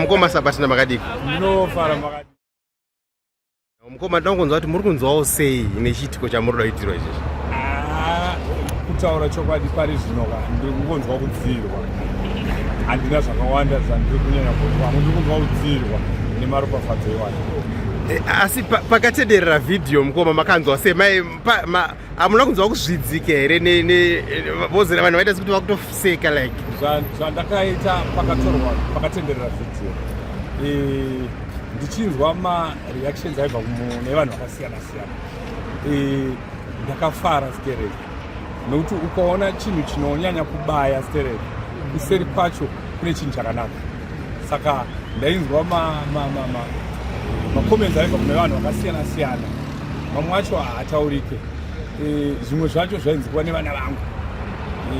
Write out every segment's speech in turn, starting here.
mukoma sabatina makadiko mukoma tinoda kunzwa kuti muri kunzwawo sei nechiitiko chamuri kuda kuitirwa izvezvi ah, kutaura chokwadi pari zvino ka ndiri kungonzwa kudziirwa handina zvakawanda zvandiri kunyanya kunzwa amwe ndiri kunzwa kudziirwa nemaropafadzo iwayo eh, asi pakatederera vhidhiyo mukoma makanzwa sei hamuna kunzwa kuzvidzike here vozera vanhu vaita sekuti vakutoseka like zvandakaita pakatorwa pakatenderera video e, ndichinzwa mareactions aibva nevanhu vakasiyana siyana e, ndakafara sterek nokuti ukaona chinhu chinonyanya kubaya sterek kuseri kwacho kune chinhu chakanaka saka ndainzwa macomments aibva kune vanhu vakasiyana siyana mamwe acho haataurike e, zvimwe zvacho zvainzi kuva nevana vangu e,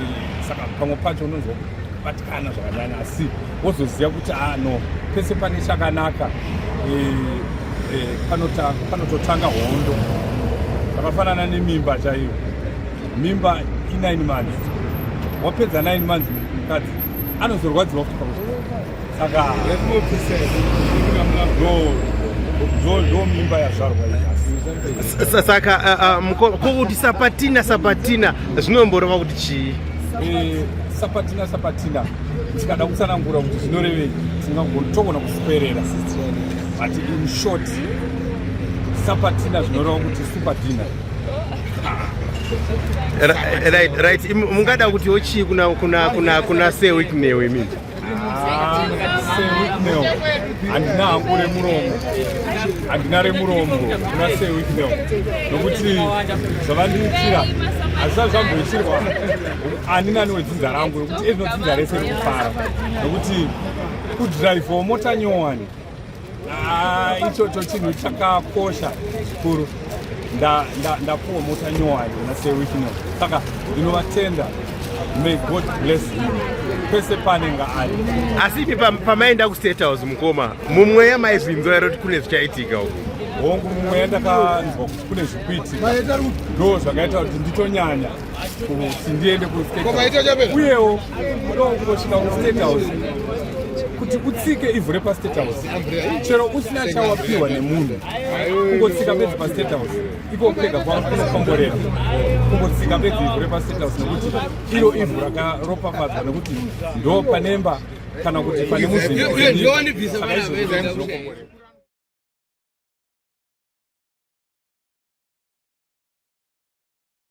saka pamwe pacho unonzwa kubatikana zvakanyanya asi wozoziva kuti ah no pese pane chakanaka e, panototanga hondo zvakafanana nemimba chaiyo mimba i9 months wapedza 9 months mukadzi anozorwadziwa futi pamwe saka ndo mimba yazvarwa saka uh, uh, kokuti sapatina sapatina zvinomboreva kuti chii eh, sapatina sapatina tikada kutsanangura kuti zvinorevei togona kusiperera but in short sapatina zvinoreva kuti supatina right right mungada kuti ochii kuna kuna kuna kuna say week nail i mean ah, say week nail andina hangu remuromo andina remuromo kuna say week nail nokuti zvavandiitira hazvisati zvamboitirwa ani nani wedzinza rangu nokuti ezvinodzinza rese rekufara nokuti kudrive mota nyowani Ah, ichocho chinhu chakakosha zvikuru ndapuwa mota nyowani nasewichino saka ndinovatenda may god bless you pese panenge ari asi ipi pamaenda kustate house mukoma mumweya maizvinzwa ero kuti kune zvichaitika uku hongu mumweya ndakanzwa kuti kune zvikuitika ndo zvakaita kuti nditonyanya kuti ndiende uyewo ndokunosvika kustate house kuti utsike ivhu repastate house chero usina chawapiwa nemunhu kungotsika bedzi pastate house iko kupega kwakunokomborera kungotsika bedzi ivhu repastate house nekuti iro ivhu rakaropafadzwa nekuti ndo panemba kana kuti pane muzinda